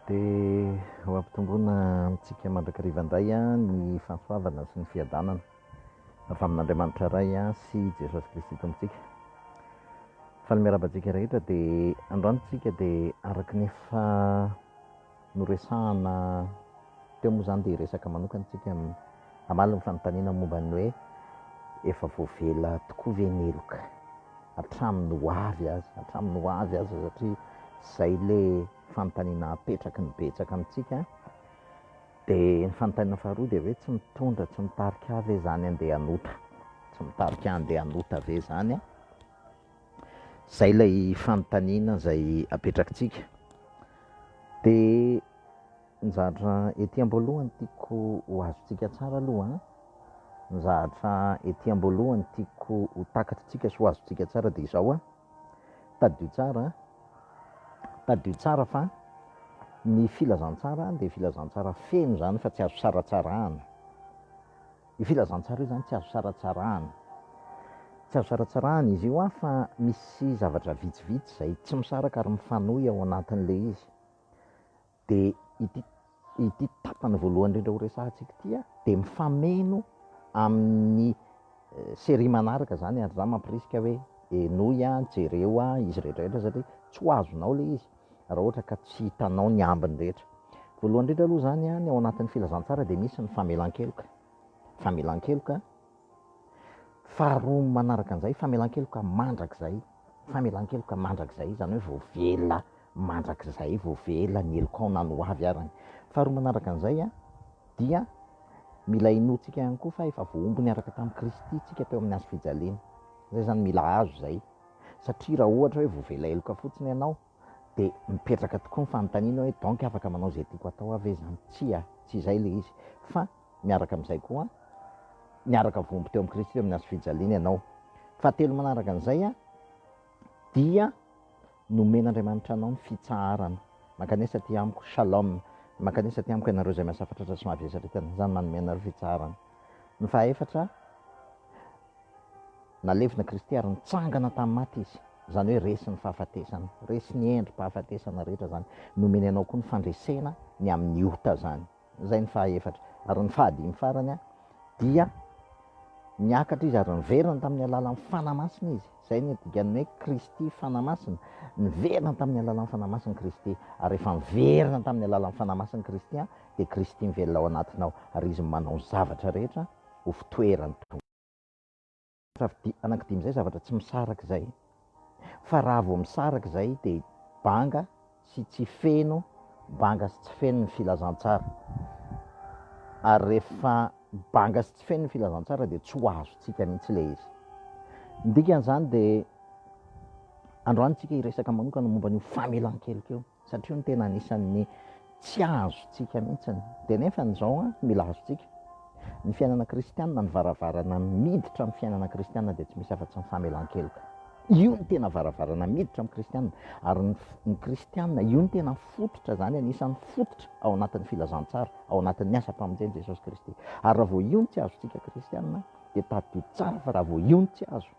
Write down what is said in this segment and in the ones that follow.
Dia ho ampitomboina amintsika mandrakariva indray ny fahasoavana sy ny fiadanana avy amin'Andriamanitra Ray sy Jesosy Kristy Tompontsika. Faly miarahaba antsika rehetra dia androany isika dia araka ny efa noresahina teo moa izany dia hiresaka manokana isika. Hamaly ny fanontaniana momba ny hoe efa voavela tokoa ve ny heloka hatramin'ny ho avy aza, hatramin'ny ho avy aza satria izay ilay fanontaniana apetraky ny betsaka amintsika. Dia ny fanontaniana faharoa dia hoe tsy mitondra, tsy mitarika ahy ve izany handeha hanota? Tsy mitarika ahy handeha hanota ve izany an? Izay ilay fanontaniana izay apetrakitsika. Dia Ny zavatra ety am-boalohany tiako ho azontsika tsara aloha an, ny zavatra ety am-boalohany tiako ho takatritsika sy ho azontsika tsara dia izao an, tadidio tsara an, tadidio tsara fa ny filazantsara dia filazantsara feno izany fa tsy azo saratsarahana. Io filazantsara io izany tsy azo saratsarahana. Tsy azo saratsarahana izy io an, fa misy zavatra vitsivitsy izay tsy misaraka ary mifanohy ao anatin'ilay izy. Dia ity ity tapany voalohany indrindra horesahantsika ity dia mifameno amin'ny série manaraka izany ary izaho mampirisika hoe henoy, jereo izy rehetra rehetra satria tsy ho azonao ilay izy raha ohatra ka tsy hitanao ny ambiny rehetra. Voalohany indrindra aloha izany ny ao anatin'ny filazantsara dia misy ny famelan-keloka, famelan-keloka. Faharoa manaraka an'izay, famelan-keloka mandrakizay, famelan-keloka mandrakizay, izany hoe voavela mandrakizay, voavela ny helokao na ny ho avy arany. Faharoa manaraka an'izay dia mila inoantsika ihany koa fa efa voahombo niaraka tamin'i Kristy isika teo amin'ny hazo fijaliana. Izay izany mila azo izay, satria raha ohatra hoe voavela heloka fotsiny ianao, Dia mipetraka tokoa ny fanontaniana hoe donc afaka manao izay tiako atao aho ve izany? Tsia, tsy izay ilay izy. Fa miaraka amin'izay koa, niaraka voaomby teo amin'i Kristy teo amin'ny hazo fijaliana ianao. Fahatelo manaraka an'izay dia nomen'Andriamanitra anao ny fitsaharana. Mankanesa aty amiko, shalom. Mankanesa aty amiko ianareo izay miasa fatratra sy mahavesatra, isan'izany manome anareo fitsaharana. Ny fahaefatra, Nalevina Kristy ary nitsangana tamin'ny maty Izy. Izany hoe resy ny fahafatesana, resy ny endri-pahafatesana rehetra izany. Nomeny anao koa ny fandresena ny amin'ny ota izany. Izay ny fahaefatra. Ary ny fahadimy farany dia niakatra Izy ary niverina tamin'ny alalan'ny Fanahy Masina Izy. Izay no dikan'ny hoe Kristy Fanahy Masina. Niverina tamin'ny alalan'ny Fanahy Masina Kristy. Ary rehefa miverina tamin'ny alalan'ny Fanahy Masina Kristy dia Kristy mivelona ao anatinao ary Izy manao ny zavatra rehetra ho fitoeran. Safidy anankidimy izay zavatra tsy misaraka izay fa raha vao misaraka izay dia banga sy tsy feno, banga sy tsy feno ny filazantsara. Ary rehefa banga sy tsy feno ny filazantsara dia tsy ho azontsika mihitsy ilay izy. Ny dikan'izany dia androany isika hiresaka manokana momba an'io famelan-keloka io. Satria hono tena anisan'ny tsy azontsika mihitsy dia nefa izao mila azontsika. Ny fiainana kristianina, ny varavarana miditra amin'ny fiainana kristianina dia tsy misy afa-tsy ny famelan-keloka. Io no tena varavarana miditra amin'ny kristianina. Ary ny, ny kristianina, io no tena fototra izany, anisan'ny fototra ao anatin'ny filazantsara, ao anatin'ny asam-pamonjen'i Jesosy Kristy. Ary raha vao io no tsy azontsika kristianina dia tadidio tsara fa raha vao io no tsy azo,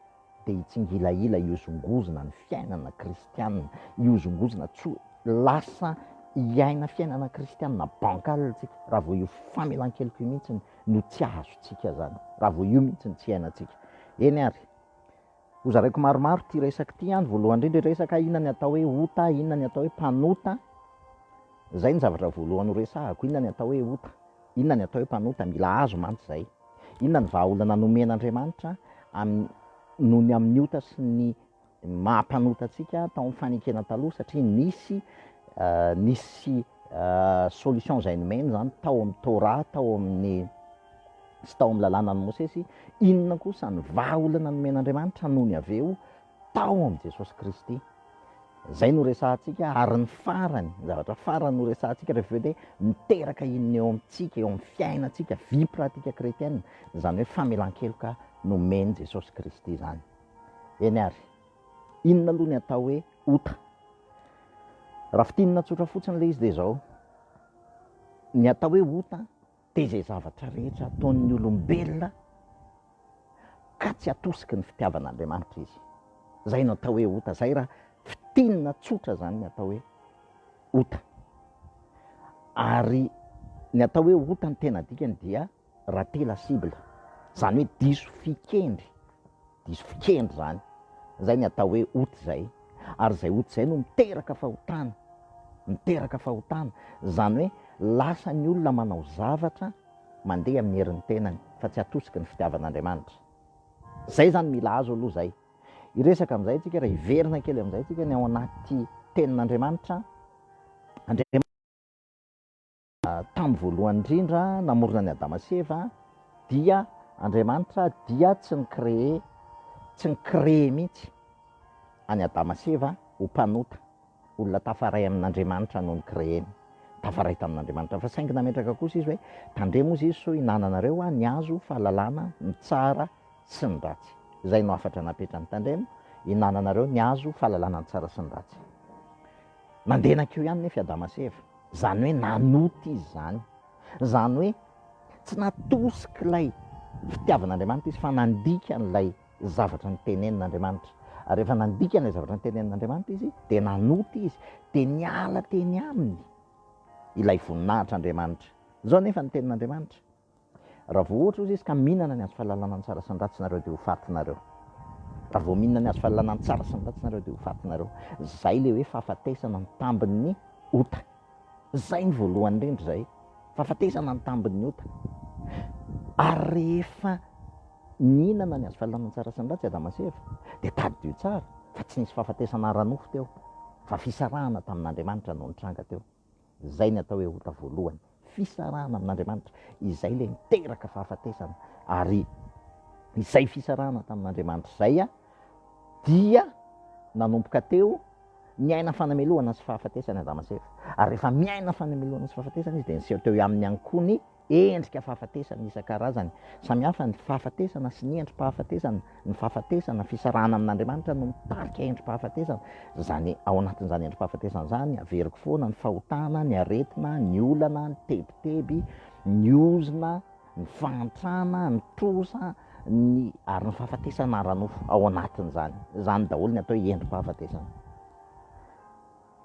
dia hitsingilahila hihozongozona ny fiainana kristianina, hihozongozona tsy ho lasa hiaina fiainana kristianina bancal isika, raha vao io famelan-keloka io mihitsy no tsy azontsika izany, raha vao io mihitsy no tsy iainantsika. Eny ary, hozaraiko maromaro ity resaka ity an, voalohany indrindra hiresaka inona ny atao hoe ota, inona ny atao hoe mpanota, izay ny zavatra voalohany horesahako, inona ny atao hoe ota. Inona ny atao hoe mpanota? Mila azo mantsy izay. Inona ny vahaolana nomen'Andriamanitra noho ny amin'ny ota sy ny maha mpanota antsika tao amin'ny fanekena taloha? Satria nisy nisy solution izay nomeny izany tao amin'ny Torah, tao amin'ny sy tao amin'ny lalànan'i Mosesy. Inona kosa ny vahaolana nomen'Andriamanitra noho ny avy eo tao amin'i Jesosy Kristy. Izay no resahantsika ary ny farany, ny zavatra farany no resahantsika rehefa hoe miteraka inona eo amintsika, eo amin'ny fiainantsika, vie pratique chretienne, izany hoe famelan-keloka nomen'i Jesosy Kristy izany. Eny ary, inona aloha ny atao hoe ota? Raha fintinina tsotra fotsiny ilay izy dia izao, ny atao hoe ota Dia izay zavatra rehetra ataon'ny olombelona ka tsy atosiky ny fitiavan'Andriamanitra izy. Izay no atao hoe ota. Izay raha fintinina tsotra izany ny atao hoe ota. Ary ny atao hoe ota ny tena dikany dia rater la cible. Izany hoe diso fikendry Diso fikendry izany. Izay ny atao hoe ota izay. Ary izay ota izay no miteraka fahotana. Miteraka fahotana. Izany hoe lasa ny olona manao zavatra mandeha amin'ny herin'ny tenany fa tsy atosiky ny fitiavan'Andriamanitra. Izay izany mila azo aloha izay. Hiresaka amin'izay isika raha hiverina kely amin'izay isika ny ao anaty tenin'Andriamanitra. Andriamanitra. Tamin'ny voalohany indrindra namorona an'i Adama sy Eva dia Andriamanitra dia tsy ni-créer, tsy ni-créer mihitsy an'i Adama sy Eva ho mpanota, olona tafaray amin'Andriamanitra no ni-créer-ny, tafaray tamin'Andriamanitra, fa saingy nametraka kosa Izy hoe, Tandremo hozy izy sao hinananareo ny hazo fahalalana ny tsara sy ny ratsy. Izay no hafatra napetrany, Tandremo, hinananareo ny hazo fahalalana ny tsara sy ny ratsy. Nandeha nankeo ihany nefa i Adama sy Eva. Izany hoe nanota izy izany. Izany hoe tsy natosik'ilay fitiavan'Andriamanitra izy fa nandika an'ilay zavatra notenenin'Andriamanitra. Ary rehefa nandika an'ilay zavatra notenenin'Andriamanitra izy dia nanota izy, dia niala teny aminy ilay voninahitr'Andriamanitra. Izao anefa ny tenin'Andriamanitra. Raha vao ohatra ozy izy ka mihinana ny hazo fahalalana ny tsara sy ny ratsy nareo dia ho faty nareo. Raha vao mihinana ny hazo fahalalana ny tsara sy ny ratsy nareo dia ho faty nareo. Zay le hoe fahafatesana ny tambin ny ota. Zay ny voalohany indrindra zay. Fahafatesana ny tambin ny ota. Ary rehefa nihinana ny hazo fahalalana ny tsara sy ny ratsy Adama sy Eva dia tadidio tsara fa tsy nisy fahafatesana ara nofo teo fa fisarahana tamin Andriamanitra no nitranga teo. Izay ny atao hoe ota voalohany, fisarahana amin'Andriamanitra, izay ilay niteraka fahafatesana. Ary izay fisarahana tamin'Andriamanitra izay dia nanomboka teo niaina fanamelohana sy fahafatesana i Adama sy Eva. Ary rehefa miaina fanamelohana sy fahafatesana izy dia niseho teo aminy ihany koa ny Endrika fahafatesana isan-karazany samihafa ny fahafatesana sy ny endri-pahafatesana, ny fahafatesana, fisarahana amin'Andriamanitra no mitarika endri-pahafatesana, izany ao anatin'izany endri-pahafatesana izany averiko foana ny fahotana, ny aretina, ny olana, ny tebiteby, ny ozona, ny fahantrana, ny trosa, ny ary ny fahafatesana ara-nofo ao anatin'izany, izany daholo ny atao hoe endri-pahafatesana.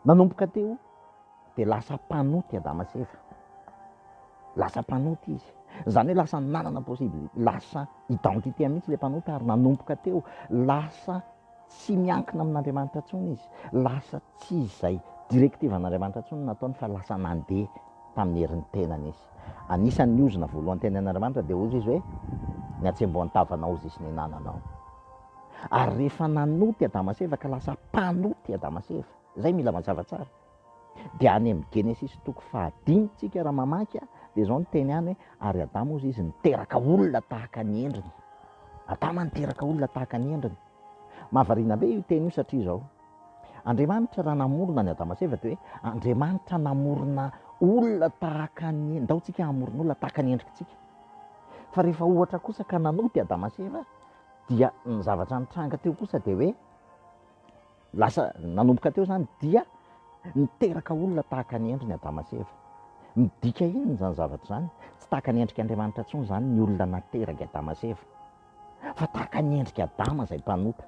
Nanomboka teo dia lasa mpanota i Adama sy Eva. Lasa mpanota izy. Izany hoe lasa nanana possibilité, lasa identité mihitsy ilay mpanota ary nanomboka teo. Lasa tsy miankina amin'Andriamanitra intsony izy. Lasa tsy izay directiven'Andriamanitra intsony no nataony fa lasa nandeha tamin'ny herin'ny tenany izy. Anisan'ny ozona voalohany tenenin'Andriamanitra dia hoy izy hoe, Ny hatsembohan'ny tavanao ho zisy ny hinananao. Ary rehefa nanota i Adama sy Eva ka lasa mpanota i Adama sy Eva, izay mila mazava tsara. Dia any amin'ny Genesisy toko fahadimy isika raha mamaky dia izao ny teny any hoe ary Adama hozy izy niteraka olona tahaka ny endriny. Adama niteraka olona tahaka ny endriny. Mahavariana be io teny io satria izao. Andriamanitra raha namorona ny Adama sy Eva dia hoe Andriamanitra namorona olona tahaka ny endriny. Ndao tsika hamorona olona tahaka ny endrikitsika. Fa rehefa ohatra kosa ka nanota i Adama sy Eva dia ny zavatra nitranga teo kosa dia hoe lasa nanomboka teo zany dia niteraka olona tahaka ny endriny Adama sy Eva. Midika inona izany zavatra izany? Tsy tahaka ny endrika Andriamanitra intsony izany ny olona nateraky Adama sy Eva fa tahaka ny endrika Adama izay mpanota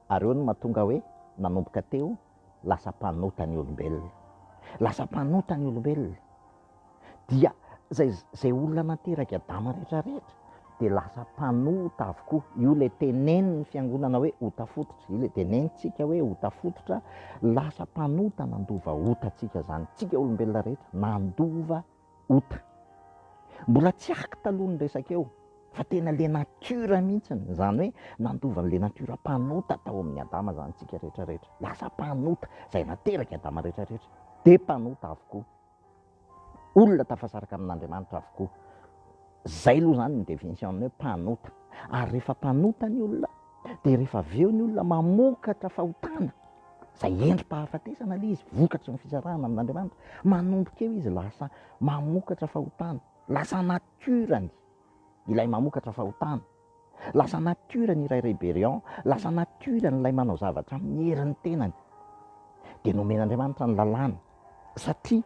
ary eo no mahatonga hoe nanomboka teo lasa mpanota ny olombelona. Lasa mpanota ny olombelona. Dia zay zay olona nanteraky Adama rehetra rehetra dia lasa mpanota avokoa. Io le tenenin'ny fiangonana hoe ota fototra, io le tenenintsika hoe ota fototra, lasa mpanota nandova ota antsika zany. Tsika olombelona rehetra nandova. ota. Mbola tsy arc taloha ny resaka eo fa tena le nature mihitsiny, izany hoe nandova an'le nature mpanota tao amin'ny Adama izany tsika retraretra. Lasa mpanota, izay naterak'i Adama retraretra dia mpanota avokoa. Olona tafasaraka amin'Andriamanitra avokoa. Izay aloha izany ny definition ny hoe mpanota. Ary rehefa mpanota ny olona. Dia rehefa avy eo ny olona mamokatra fahotana, izay endri-pahafatesana ilay izy, vokatry ny fisarahana amin'Andriamanitra. Manomboka eo izy lasa mamokatra fahotana, lasa natiorany ilay mamokatra fahotana, lasa natiorany ilay rébellion, lasa natiorany ilay manao zavatra amin'ny herin'ny tenany. Dia nomen'Andriamanitra ny lalàna satria.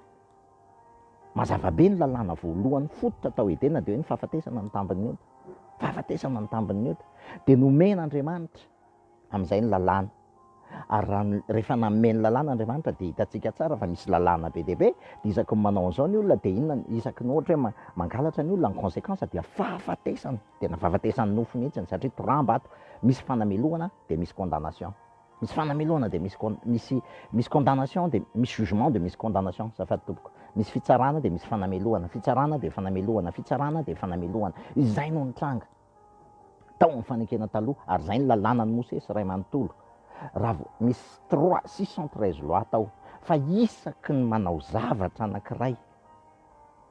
Mazava be ny lalàna voalohany fototra tao Edena dia hoe ny fahafatesana no tambin'ny ota. Fahafatesana no tambin'ny ota. Dia nomen' Andriamanitra amin'izay ny lalàna. Ary raha ny, rehefa nanome ny lalàna Andriamanitra dia hitantsika tsara fa misy lalàna be dia be. Dia isaky ny manao an'izao ny olona dia inona, isaky ny ohatra hoe mangalatra ny olona, ny conséquence dia fahafatesana. Tena fahafatesan'ny nofo mihitsy satria toramba ato. Misy fanamelohana dia misy condamnation. Misy fanamelohana dia misy misy misy condamnation dia misy jugement dia misy condamnation azafady tompoko. Misy fitsarana dia misy fanamelohana, fitsarana dia fanamelohana, fitsarana dia fanamelohana. Izay no nitranga tao amin'ny fanekena taloha ary izay ny lalànan'i Mosesy iray manontolo. Raha misy trois six cent treize lois tao fa isaky ny manao zavatra anankiray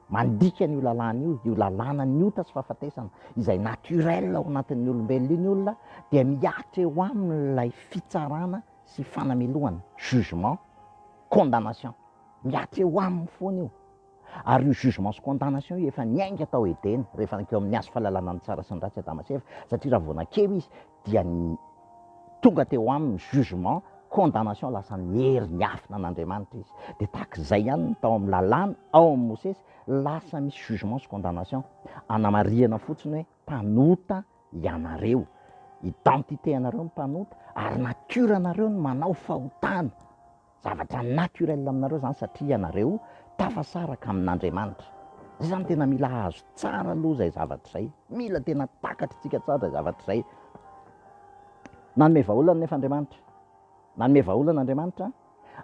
Mandika an'io lalàna io, io lalànan'ny ota sy fahafatesana izay naturel ao anatin'ny olombelona iny olona dia mihatra eo aminy ilay fitsarana sy fanamelohana, jugement, condamnation. Mihatra eo aminy foana io. Ary io jugement sy condamnation io efa niainga tao Edena, rehefa nankeo amin'ny hazo fahalalana ny tsara sy ny ratsy Adama sy Eva, satria raha vao nankeo izy, dia tonga teo aminy jugement, condamnation lasa niery niafina an'Andriamanitra izy. Dia tahaka izay ihany ny tao amin'ny lalàna, ao amin'ny Mosesy, lasa misy jugement sy condamnation. Anamarihana fotsiny hoe mpanota ianareo. Identité anareo ny mpanota ary nature anareo ny manao fahotana. Zavatra naturel aminareo izany satria ianareo tafasaraka amin'Andriamanitra. Izay izany tena mila hahazo tsara aloha izay zavatra izay. Mila tena takatr'tsika tsara izay zavatra izay. Nanome vahaolana anefa Andriamanitra. Nanome vahaolana Andriamanitra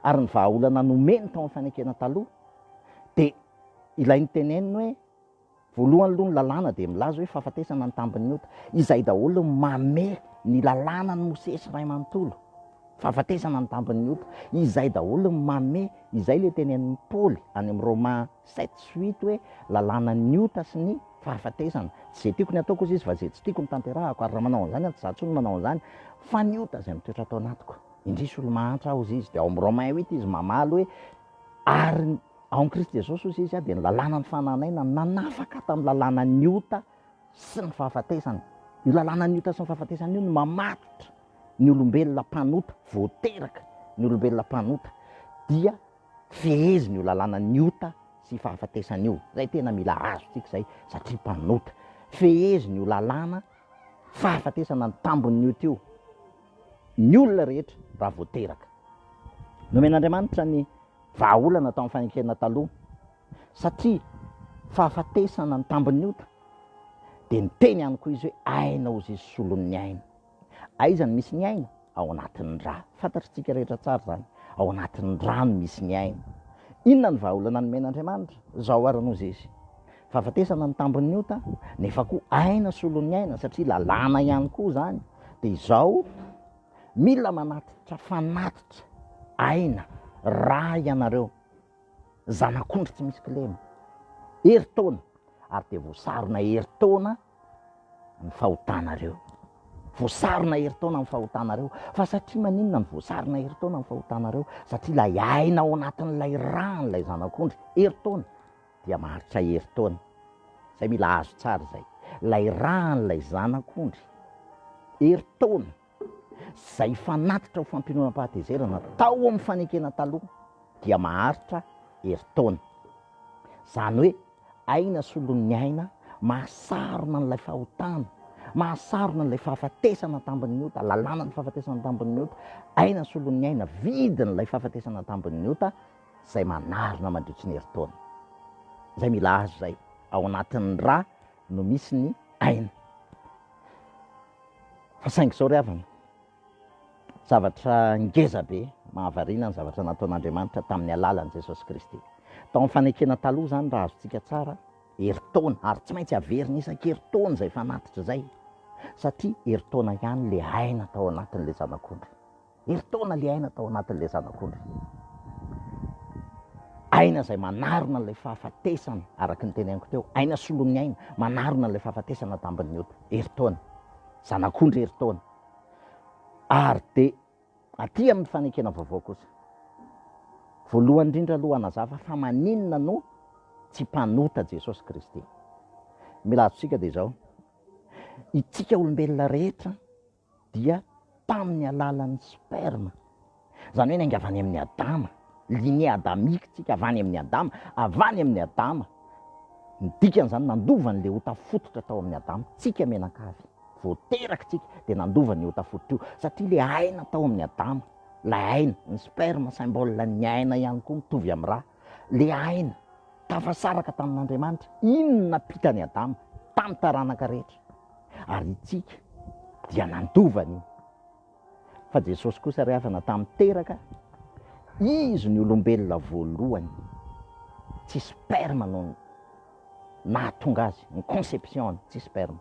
ary ny vahaolana nomeny tao amin'ny fanekena taloha dia ilay niteneniny hoe. Voalohany aloha ny lalàna dia milaza hoe fahafatesana ny tambin'ny ota. Izay daholo no mame ny lalànan'i Mosesy iray manontolo. Fahafatesana ny tambin'ny ota. Izay daholo no mame, izay ilay tenenin'i Paoly any amin'ny Roma sept sy huit hoe lalànan'ny ota sy ny fahafatesana. Tsy izay tiako ny hataoko hozy izy fa izay tsy tiako no tanterahako. Ary raha manao an'izany aho, tsy izaho intsony no manao an'izany fa ny ota izay mitoetra ato anatiko. Indrisy olo-mahantra aho hozy izy. Dia ao amin'ny Romains huit izy mamaly hoe ary ny. Ao amin'i Kristy Jesosy hozy izy dia ny lalàna ny fanananana nanafaka tamin'ny lalànan'ny ota sy ny fahafatesana. Io lalànan'ny ota sy ny fahafatesana io no mamatotra ny olombelona mpanota, vao teraka ny olombelona mpanota dia fehezin'io lalànan'ny ota sy fahafatesana io. Izay tena mila azontsika izay satria mpanota. Fehezin'io lalàna fahafatesana ny tambon'ny ota io ny olona rehetra raha vao teraka. Nomen'Andriamanitra ny Vahaolana tao amin'ny fanenkena taloha satria fahafatesana ny tambin'ny ota dia niteny ihany koa izy hoe aina ozy izy solon'ny aina. Aiza no misy ny aina? Ao anatin'ny rà. Fantatritsika rehetra tsara izany. Ao anatin'ny rà no misy ny aina. Inona ny vahaolana nomen'Andriamanitra? Izao ary no izy. Fahafatesana ny tambin'ny ota nefa koa aina solon'ny aina satria lalàna ihany koa izany. Dia izao Mila manatitra fanatitra aina rà ianareo zanak'ondry tsy misy kilema. Herintaona ary dia voasarona herintaona ny fahotanareo. Voasarona herintaona ny fahotanareo. Fa satria maninona no voasarona herintaona ny fahotanareo? Satria ilay aina ao anatin'ilay rà an'ilay zanak'ondry herintaona. dia maharitra herintaona, zay mila azo tsara zay, lay ran'lay zanak'ondry herintaona zay fanatitra ho fampiononam-pahatezerana tao amin'ny fanekena taloha dia maharitra herintaona, zany hoe aina solon'ny aina mahasarona an'ilay fahotana, mahasarona an'ilay fahafatesana tambin'ny ota, lalànan'ny fahafatesana tambin'ny ota, aina solon'ny aina, vidin'ilay fahafatesana tambin'ny ota, izay manarina mandritry ny herintaona. Izay mila azy izay, ao anatin'ny ra no misy ny aina. Fa saingy izao ry havana, zavatra ngeza be, mahavariana ny zavatra nataon'Andriamanitra tamin'ny alalan'i Jesosy Kristy. Tao amin'ny fanekena taloha izany raha azontsika tsara, herintaona, ary tsy maintsy averina isan-kerintaona izay fanatitra izay, satria herintaona ihany ilay aina tao anatin'ilay zanak'ondry. Herintaona ilay aina tao anatin'ilay zanak'ondry. Aina izay manarona ilay fahafatesana, araka ny teneniko teo, aina solon'ny aina, manarona ilay fahafatesana tambin'ny ota. Herintaona, zanak'ondry herintaona. Ary dia aty amin'ny fanekena vaovao kosa. Voalohany indrindra aloha hanazava fa maninona no tsy mpanota Jesosy Kristy. Mila azontsika dia izao, isika olombelona rehetra, dia tamin'ny alalan'ny sperme, izany hoe niainga avy any amin'i Adama, lignée adamique isika, avy any amin'i Adama, avy any amin'i Adama, ny dikan'izany nandova an'ilay ota fototra tao amin'i Adama, tsika mianankavy, vao teraka tsika dia nandova an'io ota fototra io, satria ilay aina tao amin'i Adama, ilay aina, ny sperme, symbole-n'ny aina ihany koa, mitovy amin'ny rà. Le aina tafasaraka tamin'Andriamanitra iny nampita an'i Adama tamin'ny taranaka rehetra. Ary itsika dia nandova an'io. Fa Jesosy kosa re havana tamin'ny teraka, Izy ny olombelona voalohany tsy sperme no nahatonga azy, ny conception-ny tsy sperme,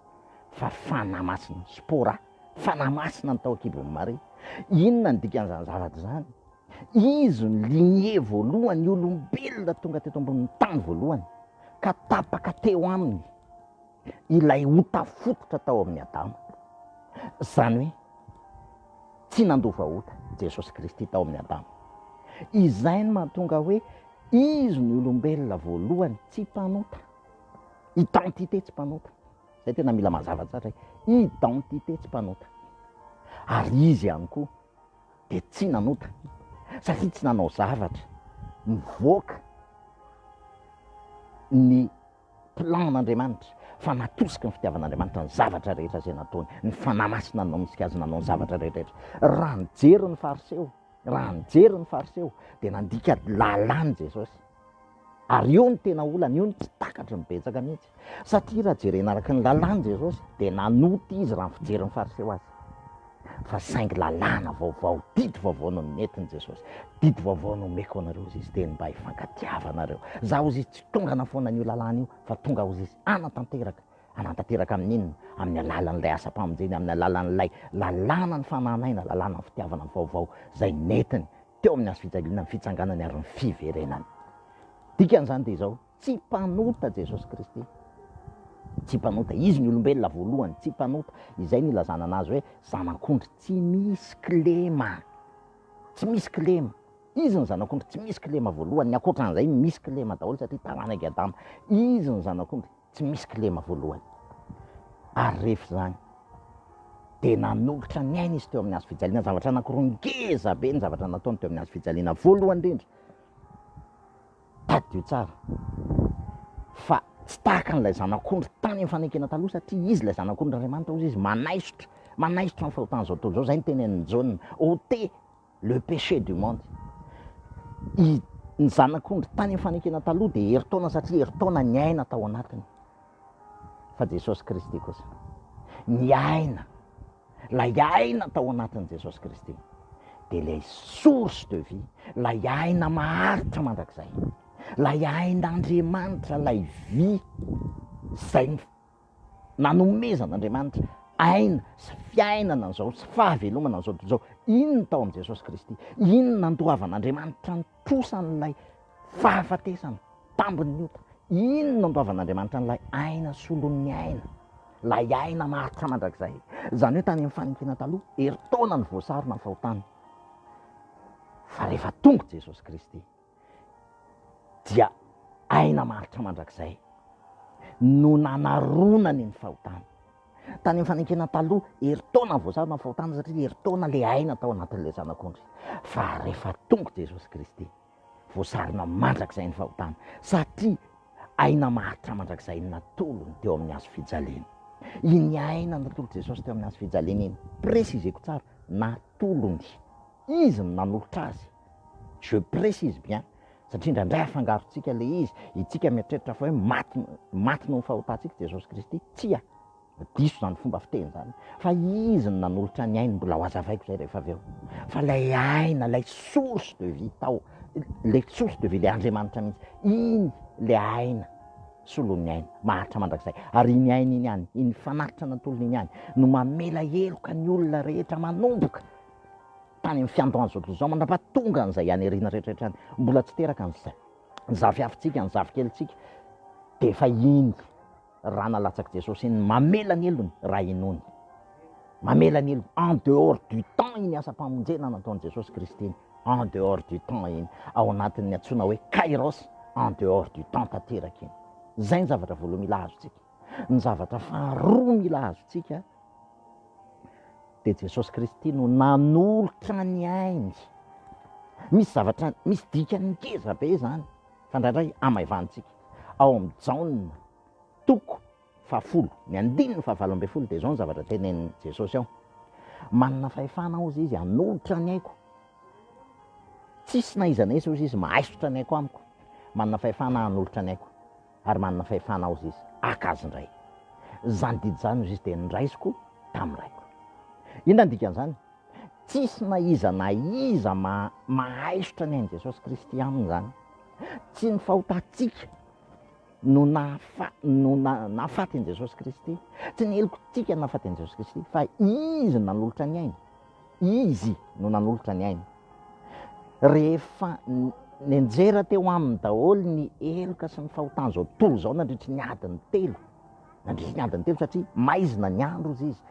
fa Fanahy Masina, Spora, Fanahy Masina ny tao an-kibon'i Maria. Inona ny dikan'izany zavatra izany? Izy no lignée voalohany, olombelona tonga teto ambonin'ny tany voalohany, ka tapaka teo aminy ilay ota fototra tao amin'i Adama. Izany hoe tsy nandova ota Jesosy Kristy tao amin'i Adama. Izay no mahatonga hoe Izy no olombelona voalohany tsy mpanota. Identité tsy mpanota. Izay tena mila mazava tsara, identité tsy mpanota. Ary Izy ihany koa. dia tsy nanota satria tsy nanao zavatra mivoaka ny plan n'Andriamanitra fa natosiky ny fitiavan'Andriamanitra ny zavatra rehetra izay nataony, ny Fanahy Masina no nanosika azy nanao ny zavatra rehetrarehetra. Raha nijery ny Fariseo, raha nijery ny Fariseo dia nandika lalàn'i Jesosy. Ary io no tena olana, io no tsy takatry ny betsaka mihitsy. Satria raha jerena araka ny lalàn'i Jesosy dia nanota izy raha ny fijerin'ny Fariseo azy. Fa saingy lalàna vaovao, didy vaovao no nentin'i Jesosy. Didy vaovao no omeko anareo hozy izy teny mba hifankatiavanareo. Za hozy izy tsy tonga hanafoana an'io lalàna io fa tonga hozy izy hanatanteraka. Hanatanteraka amin'inona? Amin'ny alalan'ilay asam-pamonjena, amin'ny alalan'ilay lalàna ny fanahy naina, lalàna ny fitiavana vaovao izay nentiny teo amin'ny hazo fijaliana, ny fitsanganany ary ny fiverenany. Dikan'izany dia izao, Tsy mpanota Jesosy Kristy. Tsy mpanota. Izy ny olombelona voalohany tsy mpanota. Izay no ilazana anazy hoe zanak'ondry tsy misy kilema. Tsy misy kilema. Izy ny zanak'ondry tsy misy kilema voalohany. Ny ankoatran'izay misy kilema daholo satria taranak'i Adama. Izy ny zanak'ondry tsy misy kilema voalohany. Ary rehefa izany dia nanolotra ny aina izy teo amin'ny hazo fijaliana. Zavatra anankiroa ngeza be ny zavatra nataony teo amin'ny hazo fijaliana. Voalohany indrindra, Tadidio tsara fa tsy tahaka an'ilay zanak'ondry tany amin'ny fanekena taloha satria izy ilay zanak'ondrin'Andriamanitra hozy izy manaisotra, manaisotra ny fahotan'izao tontolo izao, izay ny tenenin'i Jaona, ôtez le péché du monde. I, ny zanak'ondry tany amin'ny fanekena taloha dia herintaona satria herintaona niaina tao anatiny. Fa Jesosy Kristy kosa niaina. ilay aina tao anatin'i Jesosy Kristy dia ilay source de vie, ilay aina maharitra mandrakizay, ilay ain'Andriamanitra, ilay vy izay nanomezan'Andriamanitra aina sy fiainana an'izao sy fahavelomana an'izao tontolo izao, iny ny tao amin'i Jesosy Kristy, iny ny nandoavan'Andriamanitra ny posan'ilay fahafatesana, tambin'ny ota. Iny no andoavan'Andriamanitra an'ilay aina solon'ny aina, ilay aina maharitra mandrakizay. Izany hoe tany amin'ny fanenkena taloha, herintaona no voasarona ny fahotana. Fa rehefa tonga Jesosy Kristy, dia aina maharitra mandrakizay no nanaronany ny fahotana. Tany amin'ny fanekena taloha, herintaona vao zara mafaotana satria herintaona ilay aina tao anatin'ilay zanak'ondry. Fa rehefa tonga Jesosy Kristy, voasarona mandrakizay ny fahotana satria aina maharitra mandrakizay ny natolony teo amin'ny hazo fijaliana. Iny aina natolon'i Jesosy teo amin'ny hazo fijaliana iny, presizeko tsara, natolony. Izy no nanolotra azy. Je précise bien. Satria indraindray afangarontsika ilay izy, itsika mieritreritra fa hoe maty maty noho ny fahotantsika Jesosy Kristy. Tsia, diso izany fomba fiteny izany. Fa Izy no nanolotra ny ainy, mbola hohazavaiko izay rehefa avy eo. Fa ilay aina, ilay source de vie tao, ilay source de vie, ilay Andriamanitra mihitsy, iny ilay aina, solon'ny aina, maharitra mandrakizay. Ary iny aina iny ihany, iny fanatitra an'Antolony iny ihany, no mamela heloka ny olona rehetra manomboka Tany amin'ny fiandohan'ny zao tontolo izao mandra-pa tonga an'izay aniriana rehetrarehetra any, mbola tsy teraka ny za, ny zafiafintsika, ny zafikelintsika, dia efa iny ra nalatsak'i Jesosy iny, mamela ny helony raha inoany. Mamela ny helony, en dehors du temps iny asam-pamonjena nataon'i Jesosy Kristy iny, en dehors du temps iny, ao anatin'ny antsoina hoe kairos, en dehors du temps tanteraka iny. Izay ny zavatra voaloha mila azontsika. Ny zavatra faharoa mila azontsika dia Jesosy Kristy no nanolotra ny ainy. Misy zavatra, misy dikany ngeza be izany fa indraindray amaivanintsika. Ao amin'ny Jaona toko fahafolo, ny andininy fahavalo ambin'ny folo dia izao ny zavatra tenenin'i Jesosy ao. Manana fahefana aho izy hanolotra ny aiko. Tsisy na iza na iza hoy izy mahaisotra ny aiko amiko. Manana fahefana hanolotra ny aiko. ary manana fahefana ao Zizy haka azy indray. Izany didy izany hoy Zizy dia noraisiko tamin'ny Raiko. Inona no dikan'izany? Tsisy na iza na iza mahaisotra ny ain'i Jesosy Kristy aminy izany. Tsy ny fahotantsika no nahafaty an'i Jesosy Kristy, tsy ny helokantsika no nahafaty an'i Jesosy Kristy, fa Izy nanolotra ny ainy Izy no nanolotra ny ainy. Rehefa nianjera teo aminy daholo ny heloka sy ny fahotan'izao tontolo izao nandritry ny adiny telo, nandritry ny adiny telo satria maizina ny andro hozy izy,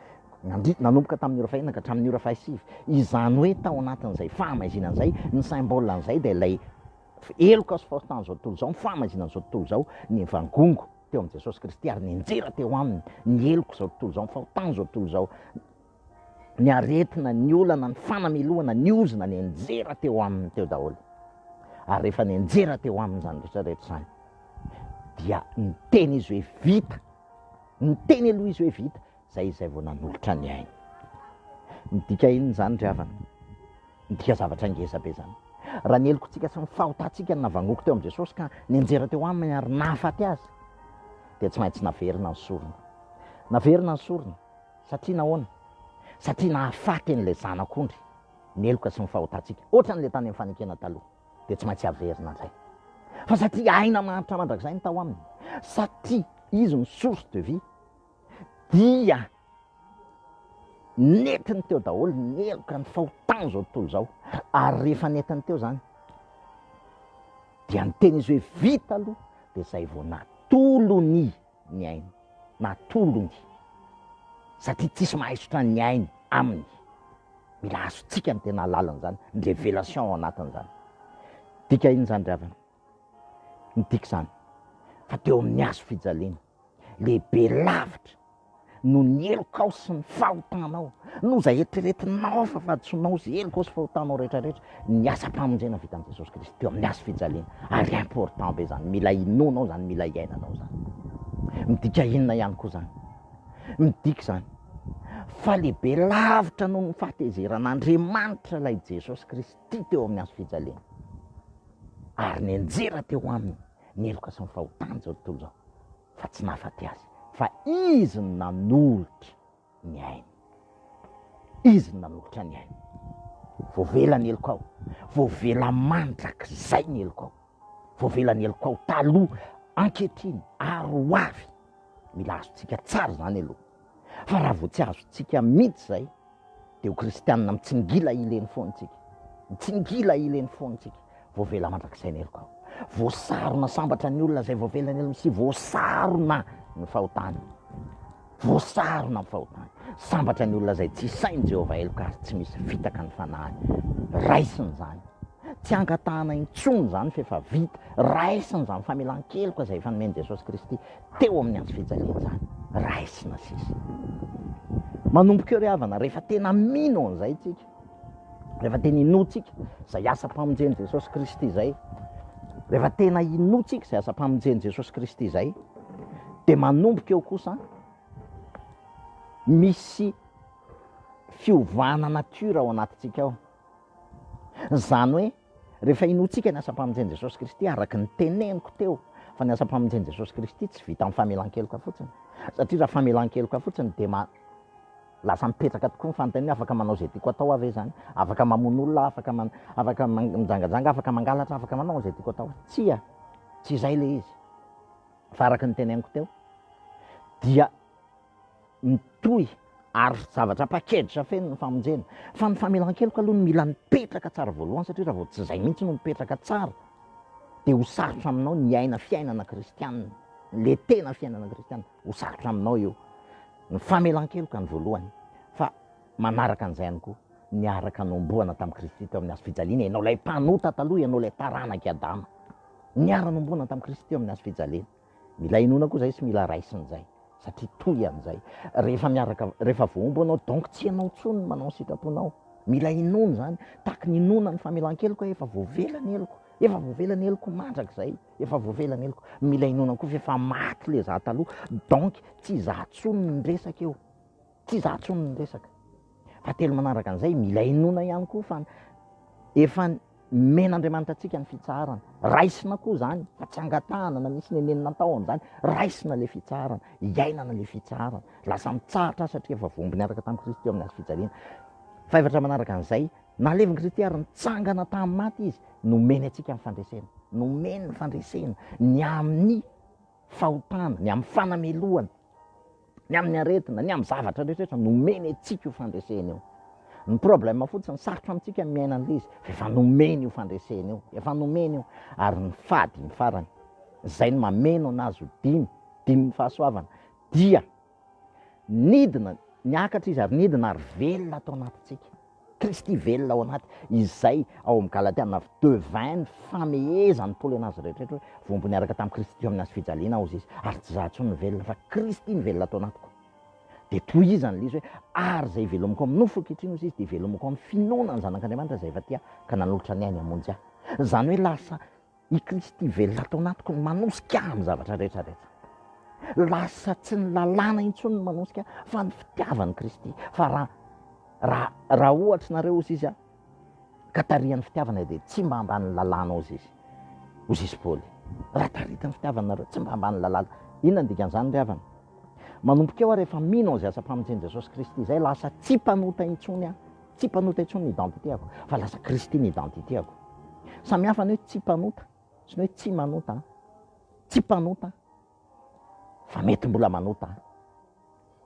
nandri, nanomboka tamin'ny ora fahenina ka hatramin'ny ora fahasivy, izany hoe tao anatin'izay fahamaizinana izay, ny symbole an'izay dia ilay heloka sy fahotan'izao tontolo izao, ny fahamaizinan'izao tontolo izao, nivangongo teo amin'i Jesosy Kristy ary nianjera teo aminy ny helok'izao tontolo izao, ny fahotan'izao tontolo izao. ny aretina, ny olana, ny fanamelohana, ny ozona, nenjera teo aminy teo daholo. Ary rehefa nenjera teo aminy izany rehetra rehetra izany, dia niteny izy hoe vita, niteny aloha izy hoe vita, zay izay vao nanolotra ny ainy. Midika inona izany ry havana? Midika zavatra ngeza be izany. Raha ny helokontsika sy ny fahotantsika no navangoako teo amin'i Jesosy ka nenjera teo aminy ary nahafaty azy, dia tsy maintsy naverina ny sorona. Naverina ny sorona. Satria nahoana? Satria nahafaty an'ilay zanak'ondry ny heloka sy ny fahotantsika, ohatran'ilay tany amin'ny fanekena taloha, dia tsy maintsy averina indray. Fa satria aina maharitra mandrakizay ny tao Aminy, satria Izy no source de vie, dia nentiny teo daholo ny heloka, ny fahotan'izao tontolo izao. Ary rehefa nentiny teo izany, dia niteny Izy hoe, Vita aloha, dia izay vao natolony. ny ainy na tolony satria tsisy mahaisotra ny ainy aminy mila azontsika ny tena alalany zany ny revelation ao anatiny zany dika iny zany ry avana ny dika zany fa teo amin'ny hazo fijaliana lehibe lavitra noho ny helokao sy ny fahotanao, noho izay eritreretinao fa fahadisoanao sy helokao sy fahotanao rehetra rehetra, ny asam-pamonjena vitan'i Jesosy Kristy teo amin'ny hazo fijaliana, ary important be izany, mila inoanao izany, mila iainanao izany. Midika inona ihany koa izany? Midika izany fa lehibe lavitra noho ny fahatezeran'Andriamanitra ilay Jesosy Kristy teo amin'ny hazo fijaliana, ary nianjera teo aminy ny heloka sy ny fahotany izao tontolo izao, fa tsy nahafaty azy fa izy no nanolotra ny ainy. Izy no nanolotra ny ainy. Voavela ny heloko aho, voavela mandrakizay ny heloko aho, voavela ny heloko aho taloha, ankehitriny ary ho avy. Mila azontsika tsara izany aloha. fa raha vao tsy azontsika mihitsy izay dia ho kristianina mitsingila hileny foana isika, mitsingila hileny foana isika, voavela mandrakizay ny heloka, voasarona sambatra ny olona izay voavela ny helony sy voasarona ny fahotany, voasarona ny fahotany, sambatra ny olona izay tsy hisain'i Jehovah heloka ary tsy misy fitaka ny fanahiny, raisiny izany, tsy angatahana intsony izany fa efa vita, raisiny izany famelan-keloka izay efa nomen'i Jesosy Kristy. teo amin'ny andro fijaliana izany raisina sisa. Manomboka eo ry havana, rehefa tena mino an'izay tsika, rehefa tena inoantsika izay asam-pamonjen'i Jesosy Kristy izay, rehefa tena inoantsika izay asam-pamonjen'i Jesosy Kristy izay, dia manomboka eo kosa misy fiovana natiora ao anatintsika ao. Izany hoe Rehefa inoantsika ny asam-pamonjen'i Jesosy Kristy, araka ny teneniko teo fa ny asam-pamonjen'i Jesosy Kristy tsy vita amin'ny famelan-keloka fotsiny, satria raha famelan-keloka fotsiny dia ma, lasa mipetraka tokoa ny fanontaniana hoe afaka manao izay tiako atao aho ve izany? Afaka mamono olona aho, afaka man, afaka mijangajanga, afaka mangalatra, afaka manao izay tiako atao. Tsia, tsy izay ilay izy. Fa araka ny teneniko teo dia mitohy ary zavatra package feno ny famonjena. Fa ny famelan-keloka aloha no mila mipetraka tsara voalohany satria raha vao tsy izay mihitsy no mipetraka tsara dia ho sarotra aminao ny hiaina fiainana kristianina, ilay tena fiainana kristianina, ho sarotra aminao io. Ny famelan-keloka ny voalohany fa manaraka an'izay ihany koa ny araka nomboana tamin'i Kristy teo amin'ny hazo fijaliana, ianao ilay mpanota taloha, ianao ilay taranak'i Adama niara-nomboana tamin'i Kristy teo amin'ny hazo fijaliana. Mila inoana koa zay sy mila raisina zay satria toy an'izay rehefa miaraka rehefa voahombo anao donc tsy ianao intsony no manao ny sitraponao. Mila inoana izany, tahaky ny inoana ny famelan-keloka hoe efa voavela ny heloko, efa voavela ny heloko mandrakizay, efa voavela ny heloko. Mila inoana koa fa efa maty ilay izaho taloha donc tsy izaho intsony no miresaka eo. Tsy izaho intsony no miresaka. Fahatelo manaraka an'izay, mila inoana ihany koa fa efa nomen'Andriamanitra antsika ny fitsaharana. Raisina koa izany fa tsy angatahana na misy nenenina atao amin'izany. Raisina ilay fitsaharana, iainana ilay fitsaharana. Lasa mitsahatra aho satria efa voa-omby niaraka tamin'i Kristy teo amin'ny hazo fijaliana. Fahaefatra manaraka an'izay, nahalevin'i Kristy ary nitsangana tamin'ny maty Izy, nomeny antsika ny fandresena. Nomeny ny fandresena, ny amin'ny fahotana, ny amin'ny fanamelohana. Ny amin'ny aretina, ny amin'ny zavatra rehetrarehetra nomeny antsika io fandresena io. Ny problème fotsiny, sarotra amintsika ny miaina an'ilay izy, fa efa nomeny io fandresena io, efa nomeny io. Ary ny fady, ny farany, izay no mameno an'azy ho dimy, dimin'ny fahasoavana, dia nidina, niakatra izy ary nidina ary velona ato anatintsika. Kristy velona ao anaty izay ao amin'ny Galatiana avy de vin ny famehezan'i Paoly an'azy rehetraretra hoe voambo niaraka tamin'i Kristy tamin'ny hazo fijaliana aho izy ary tsy izaho intsony no velona fa Kristy no velona ato anatiko. Dia tohizan'ilay izy hoe ary izay ivelomiko amin'ny nofo ankehitriny osa izy dia ivelomiko amin'ny finoana ny Zanak'Andriamanitra izay efa tia ka nanolotra ny ainy hamonjy ahy. Izany hoe lasa I Kristy velona ato anatiko no manosika ahy amin'ny zavatra rehetra rehetra. Lasa tsy ny lalàna intsony no manosika ahy fa ny fitiavan'i Kristy. Fa raha raha raha ohatry nareo ozy izy aho ka tarihan'ny fitiavana dia tsy mba ambanin'ny lalàna ozy izy. Ozy izy Paoly. Raha taritin'ny fitiavana nareo tsy mba ambanin'ny lalàna. Inona ny dikan'izany ry havana? Manomboka eo aho rehefa mino an'izay asam-pamonjen'i Jesosy Kristy izay lasa tsy mpanota intsony aho. Tsy mpanota intsony ny identité-ako fa lasa Kristy ny identité-ako. Samy hafa ny hoe tsy mpanota sy ny hoe tsy manota an! Tsy mpanota fa mety mbola manota an!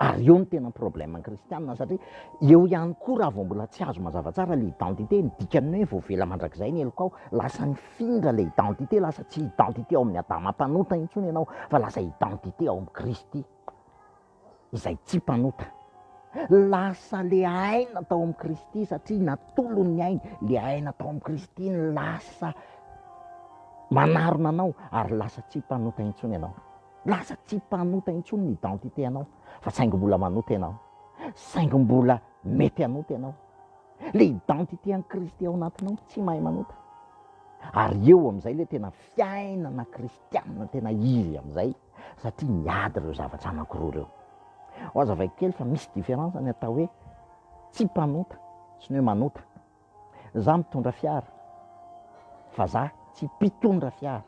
Ary eo ny tena problème ny kristianina satria eo ihany koa raha vao mbola tsy azo mazava tsara ilay identité, ny dikan'ny hoe voavela mandrakizay ny helokao, lasa nifindra ilay identité, lasa tsy identité ao amin'ny Adama mpanota intsony ianao fa lasa identité ao amin'i Kristy. izay tsy mpanota. Lasa le aina tao amin'i Kristy satria natolon'ny ainy. Le aina tao amin'i Kristy no lasa manarona anao ary lasa tsy mpanota intsony ianao. Lasa tsy mpanota intsony ny identité ianao fa saingy mbola manota ianao. Saingy mbola mety hanota ianao. Le identité an'i Kristy ao anatinao tsy mahay manota. Ary eo amin'izay le tena fiainana Kristy. Tianina tena izy amin'izay satria miady ireo zavatra anankiroa ireo. Ho azo avaiko kely fa misy différence ny atao hoe tsy mpanota sy ny hoe manota. Za mitondra fiara fa za tsy mpitondra fiara.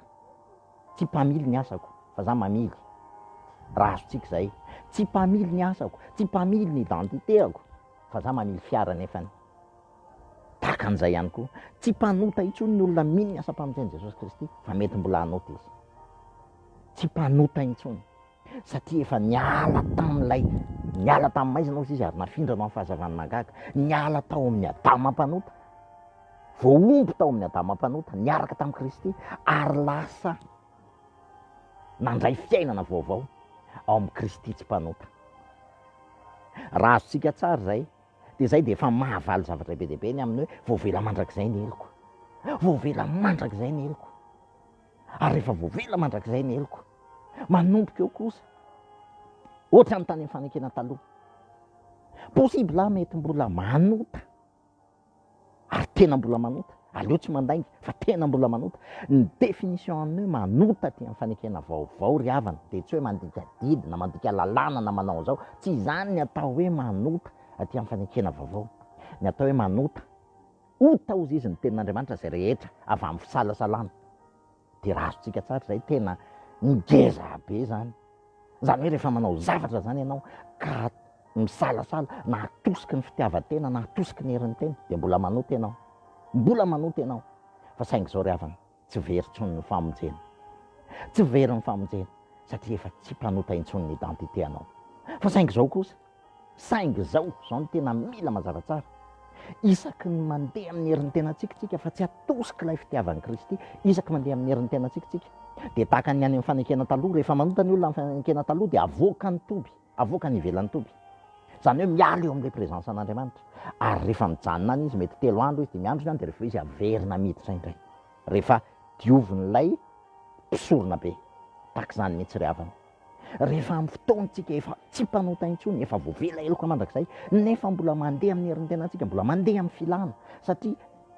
Tsy mpamily ny asako fa za mamily. Raha azontsika izay. Tsy mpamily ny asako, tsy mpamily ny identité-ako fa za mamily fiara nefany. Tahaka an'izay ihany koa, tsy mpanota intsony ny olona mino ny asam-pamonjen'i Jesosy Kristy, fa mety mbola hanota izy. Tsy mpanota intsony, satria efa niala tamin'ilay niala tamin'ny maizina hozy izy ary nafindra anao amin'ny fahazavan'ny mahagaga. Niala tao amin'ny Adama mpanota, voahombo tao amin'ny Adama mpanota, niaraka tamin'i Kristy, ary lasa nandray fiainana vaovao ao amin'i Kristy tsy mpanota. Raha azontsika tsara izay, Dia izay dia efa mahavaly zavatra be dia be ny amin'ny hoe voavela mandrakizay ny heloko. Voavela mandrakizay ny heloko. Ary rehefa voavela mandrakizay ny heloko, manomboka eo kosa, ohatra ny tany amin'ny fanekena taloha, possible aho mety mbola manota ary tena mbola manota, aleo tsy mandainga fa tena mbola manota, ny définition an'ny hoe manota aty amin'ny fanekena vaovao ry havana dia tsy hoe mandika didy na mandika lalàna na manao an'izao, tsy izany ny atao hoe manota aty amin'ny fanekena vaovao, ny atao hoe manota, ota hozy izy ny tenin'Andriamanitra izay rehetra avy amin'ny fisalasalana. Dia raha azontsika tsara izay tena ngeza be izany. Izany hoe rehefa manao zavatra izany ianao ka misalasala na hatosiky ny fitiavan-tena na hatosiky ny herin'ny tena dia mbola manota ianao. Mbola manota ianao. Fa saingy izao ry havana, tsy very intsony ny famonjena. Tsy very ny famonjena satria efa tsy mpanota intsony ny identité anao. Fa saingy izao kosa. Saingy izao, izao no tena mila mazava tsara, isaky ny mandeha amin'ny herin'ny tenantsika isika fa tsy atosik'ilay fitiavan'i Kristy, isaky mandeha amin'ny herin'ny tenantsika isika dia tahaka ny any amin'ny fanekena taloha, rehefa manota ny olona amin'ny fanekena taloha dia avoaka ny toby, avoaka ny ivelan'ny toby, izany hoe miala eo amin'ilay présence an'Andriamanitra, ary rehefa mijanona any izy, mety telo andro izy, dimy andro izy any dia rehefa avy eo izy averina miditra indray, rehefa diovin'ilay mpisoronabe, tahaka izany mihitsy ry havana. Rehefa amin'ny fotoantsika efa tsy mpanota intsony, efa voavela heloka mandrakizay, nefa mbola mandeha amin'ny herin'ny tenantsika, mbola mandeha amin'ny filana, satria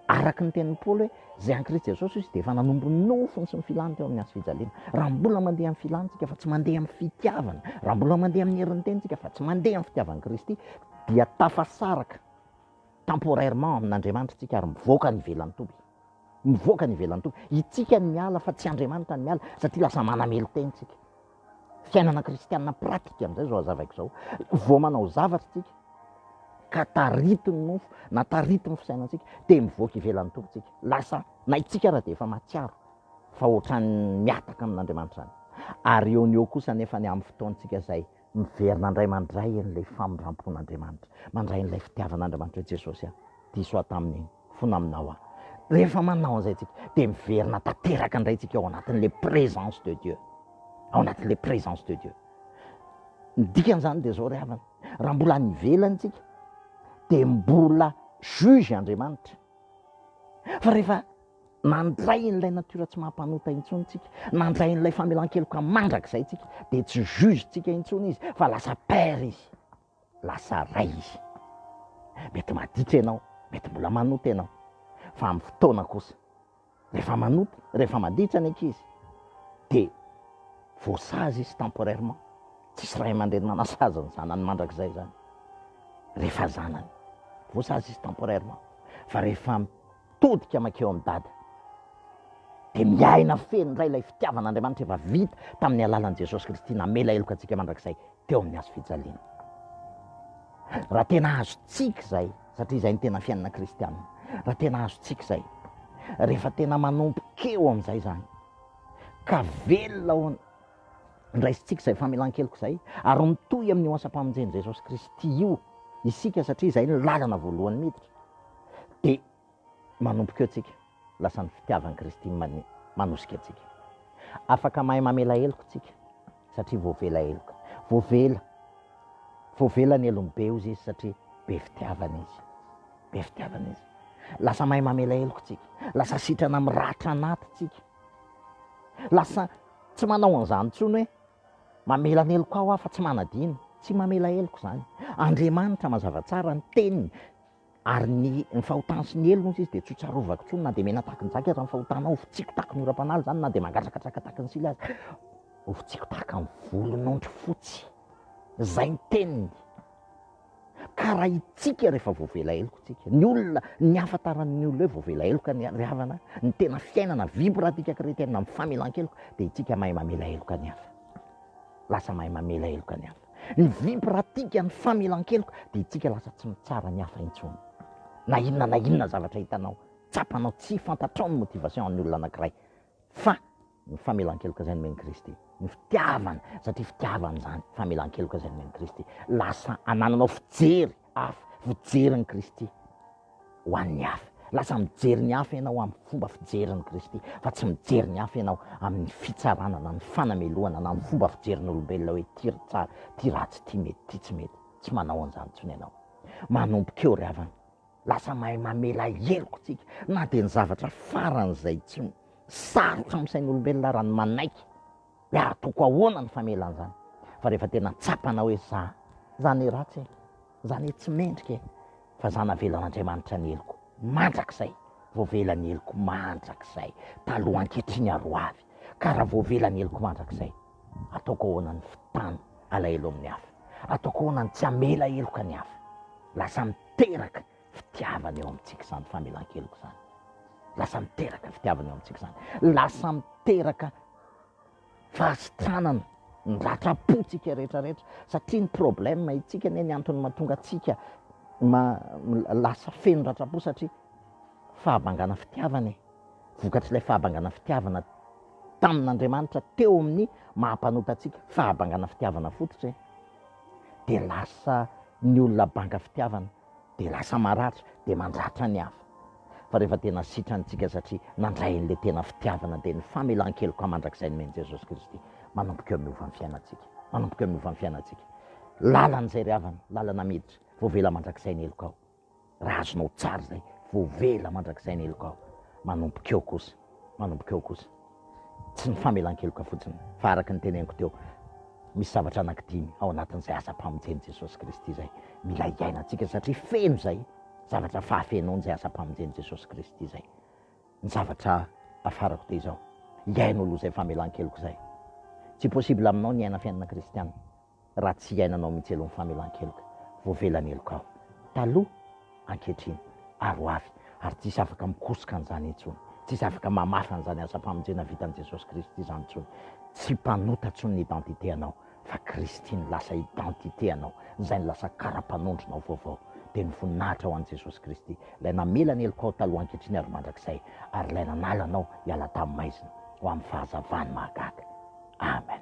araka ny tenin'i Paoly hoe izay an'i Kristy Jesosy izy dia efa nanompo ny nofony sy ny filany teo amin'ny hazo fijaliana. Raha mbola mandeha amin'ny filantsika fa tsy mandeha amin'ny fitiavana, raha mbola mandeha amin'ny herin'ny tenintsika fa tsy mandeha amin'ny fitiavan'i Kristy, dia tafasaraka temporairement amin'Andriamanitra isika ary mivoaka any ivelan'ny toby. mivoaka any ivelany toa itsika ny miala fa tsy Andriamanitra ny miala satria lasa manamelo-tena isika. Fiainana kristianina pratika amin'izay izao hazavaiko izao. Vao manao zavatra isika ka taritin'ny nofo na taritin'ny fisainantsika dia mivoaka ivelan'ny Tompo isika. Lasa na itsika ara dia efa mahatsiaro fa ohatran'ny mihataka amin'Andriamanitra izany. Ary eo ny eo kosa nefa ny amin'ny fotoantsika izay miverina indray mandray an'ilay famindram-pon'Andriamanitra, mandray an'ilay fitiavan'Andriamanitra hoe Jesosy a, diso aho tamin'iny. fona aminao aho. Rehefa manao an'izay tsika dia miverina tanteraka indray tsika ao anatin'ilay présence de Dieu, ao anatin'ilay présence de Dieu. Ny dikan'izany dia zao ry havana, raha mbola any ivelany tsika dia mbola juge Andriamanitra, fa rehefa nandray an'ilay natiora tsy maha-mpanota intsony tsika, nandray an'ilay famelan-keloka mandrakizay tsika dia tsy juge tsika intsony izy fa lasa père izy. lasa ray izy. Mety maditra ianao, mety mbola manota ianao, fa amin'ny fotoana kosa, rehefa manota, rehefa maditra ny ankizy, dia voasazy izy temporairement, tsisy ray aman-dreny manasazy ny zanany mandrakizay izany, rehefa zanany, voasazy izy temporairement, fa rehefa Todika mankeo amin'i Dada. Dia miaina feno indray ilay fitiavan'Andriamanitra efa vita tamin'ny alalan'i Jesosy Kristy namela heloka antsika mandrakizay teo amin'ny hazo fijaliana. Raha tena azontsika izay, satria izay ny tena fiainana kristianina, raha tena azontsika izay, rehefa tena manompo keo amin'izay izany, ka velona ao Raisintsika izay famelan-keloka izay ary mitohy amin'io asam-pamonjen'i Jesosy Kristy io isika satria izay no lalana voalohany miditra dia manomboka eo tsika lasa ny fitiavan'i Kristy manosika antsika. Afaka mahay mamela heloka isika satria voavela heloka. Voavela, voavela ny helony be ozy izy satria be fitiavana izy. Be fitiavana izy. Lasa mahay mamela heloka isika. Lasa sitrana miratra anaty isika. Lasa tsy manao an'izany intsony hoe mamela ny helokao aho fa tsy manadino. Tsy mamela heloka izany. Andriamanitra mazava tsara ny teniny ary ny ny fahotany sy ny helony hozy izy dia tsy ho tsarovako intsony na dia mena tahaka ny jaky aza ny fahotanao ho fitsiko tahaka ny oram-panaly izany na dia mangatrakatraka tahaka ny sila aza ho fitsiko tahaka ny volon'ondry fotsy. Izay ny teniny. ka raha itsika rehefa voavela heloka tsika, ny olona, ny hafantaran'ny olona hoe voavela heloka ny ry havana, ny tena fiainana vivre antsika kretena amin'ny famelan-keloka dia itsika mahay mamela heloka ny hafa, lasa mahay mamela heloka ny hafa, ny vivre antsika ny famelan-keloka dia itsika lasa tsy mitsara ny hafa intsony, na inona na inona zavatra hitanao, tsapanao, tsy fantatrao ny motivation an'ny olona anankiray fa ny famelan-keloka izay nomen'i Kristy. Ny fitiavana, satria fitiavana izany, famelan-keloka izay nomen'i Kristy. Lasa anananao fijery hafa, fijerin'i Kristy ho an'ny hafa. Lasa mijery ny hafa ianao amin'ny fomba fijerin'i Kristy, fa tsy mijery ny hafa ianao amin'ny fitsarana na ny fanamelohana na ny fomba fijerin'olombelona hoe ty ry tsara, ty ratsy, ty mety, ty tsy mety. Tsy manao an'izany intsony ianao. Manomboka eo ry havana. Lasa mahay mamela heloka isika na dia ny zavatra faran'izay tsy sarotra amin'ny sain'olombelona ary ny manaiky dia ary toko ahoana ny famelana izany fa rehefa tena tsapana hoe za za ne ratsy e, za ne tsy mendrika e, fa za navelan'Andriamanitra ny heloko mandrakizay, voavela ny heloko mandrakizay, taloha, ankehitriny ary ho avy, ka raha voavela ny heloko mandrakizay Ataoko ahoana ny fitana alahelo amin'ny hafa? Ataoko ahoana ny tsy hamela heloka ny hafa? Lasa miteraka fitiavana eo amintsika izany famelan-keloka izany. Lasa miteraka fitiavana eo amintsika izany. Lasa miteraka fahasitranana ny ratram-pontsika rehetrarehetra, satria ny problème itsika anie ny antony mahatonga antsika lasa feno ratram-po satria fahabangana fitiavana e. vokatr'ilay fahabangana fitiavana tamin'Andriamanitra teo amin'ny maha mpanota antsika, fahabangana fitiavana fototra e! dia lasa ny olona banga fitiavana dia lasa maratra dia mandratra ny hafa, fa rehefa tena sitrany tsika satria nandray an'ilay tena fitiavana dia ny famelan-keloka mandrakizay nomen'i Jesosy Kristy manomboka eo miova ny fiainantsika, manomboka eo miova ny fiainantsika, lalana izay ry havana, lalana miditra, voavela mandrakizay ny helokao. Raha azonao tsara izay, voavela mandrakizay ny helokao. Manomboka eo kosa, manomboka eo kosa. Tsy ny famelan-keloka fotsiny, fa araka ny teneniko teo, misy zavatra anankidimy ao anatin'izay asam-pamonjen'i Jesosy Kristy izay mila hiainantsika, satria feno izay zavatra fahafenoan'izay asam-pamonjen'i Jesosy Kristy izay. Ny zavatra afarako dia izao, hiaino aloha izay famelan-keloka izay. Tsy possible aminao ny hiaina fiainana kristiana. raha tsy iainanao mihitsy aloha ny famelan-keloka, voavelan-heloka aho taloha, ankehitriny ary ho avy, ary tsisy afaka mikosoka an'izany intsony, tsisy afaka mamafa an'izany asam-pamonjena vitan'i Jesosy Kristy izany intsony, tsy mpanota intsony ny identité-nao, fa Kristy no lasa identité-nao, izay no lasa kara-panondronao vaovao, dia ny voninahitra ho an'i Jesosy Kristy, Ilay namela ny helokao taloha, ankehitriny ary mandrakizay, ary Ilay nanala anao hiala tamin'ny maizina ho amin'ny fahazavany mahagaga. Amen.